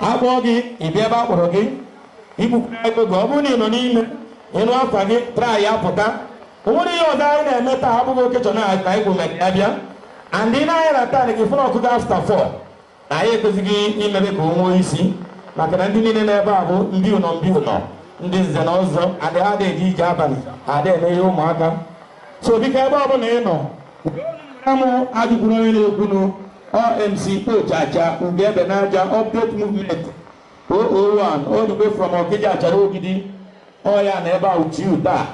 a kpọọ gị ị bịa ebe a kpọrọ gị ị kpụkwara ego gị ọ bụrụ na ị nọ n'ime ị nụ afa gị traịa pụta o nwere ihe ọzọ anyị na-eme taa abụghị occasion anyị kwụ maka ya bịa and ị nee anya na time gị fụ na ọ kụgo after four na anyị ekwesigo imebe ka o nwee isi maka na ndị niile nọ ebe a bụ ndị ụnọ ndị ụnọ ndị nze na ọzọ and adịghị eje ije abalị adịghị eme ihe ụmụaka so biko ebe ọ bụla ị nọ Amụ ajụkwuru onye na-ekwunu ọ MC Ojaja Ugebe n'aja update movement 001 all the way from Okija Achara Ogidi ọya na ebe a uchiu taa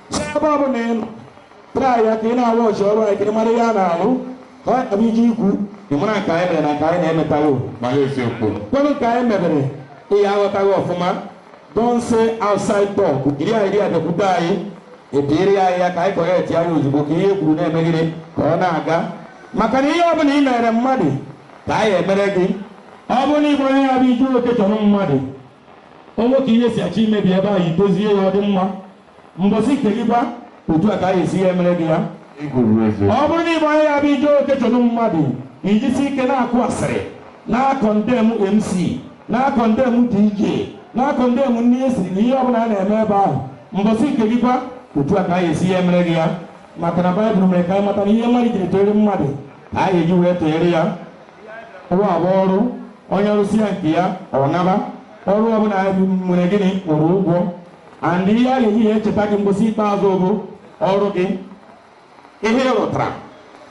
so ebe ọ bụla ị nọ traịa ka ị na-awọchị ọrụ anyị ka ị mara ihe a na-alụ ka ọ bụ i je ikwu ị mara nke anyị mere na nke anyị na-emetaghị o nwere nke anyị mebere ị na-aghọtaghị ọfụma Don't stay outside talk. Iri a iri a bịakwute anyị ebiere anyị ya ka anyị kọrektie ya ozugbo ka ihe kwuru na-emegide ka ọ na-aga maka na ihe ọ bụla ị mere mmadụ ka a ya-emere gị ọ bụrụ na ị bụ onye ya bụ i je occasion mmadụ o nwee ka ihe si achọ imebi ebe ahụ i dozie ya ọ dị mma Mbọsị nke gị kwa, otu a ka a ga-esi ya emere gị ya. Ọ bụrụ na ị bụ onye ya bụ i je occasion mmadụ i jisie ike na-akụ asịrị na-akọndem MC na-akọndem DJ na-akọndem nri e siri na ihe ọbụla a na-eme ebe ahụ mbọsị nke gị kwa otu a ka a ga-esi ya emere gị ya maka na baịbụl mere ka anyị mata na ihe mmadụ jiri tụọrọ mmadụ ka a ga-eji wee tụọrọ ya ụwa bụ ọrụ onye rụsịa nke ya ọ naba ọrụ ọbụla nwere gịnị kwụrụ ụgwọ and ihe a ga-eji ya echeta gị mbọsị ikpeazụ bụ ọrụ gị ihe ị rụtara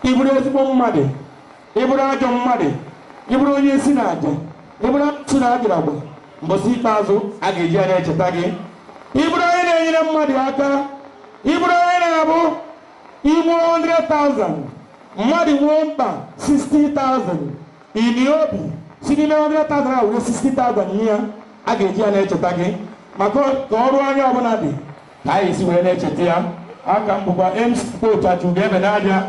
ịbụrụ ezigbo mmadụ ịbụrụ ajọ mmadụ ịbụrụ onye nsi na aja ịbụrụ amusu na ajaragba mbọsị ikpeazụ a ga-eji ya na-echeta gị ịbụrụ onye na-enyere mmadụ aka ịbụrụ onye na-abụ ị kpụ 100,000 mmadụ nwee mkpa 60,000 I nwee obi si n'ime 100,000 a were 60,000 nye ya a ga-eji ya na-echeta gị maka ka ọrụ onye ọbụla dị ka a ya-esi wee na-echeta ya a ka m bụkwa MC Ojaja Ugebe n'aja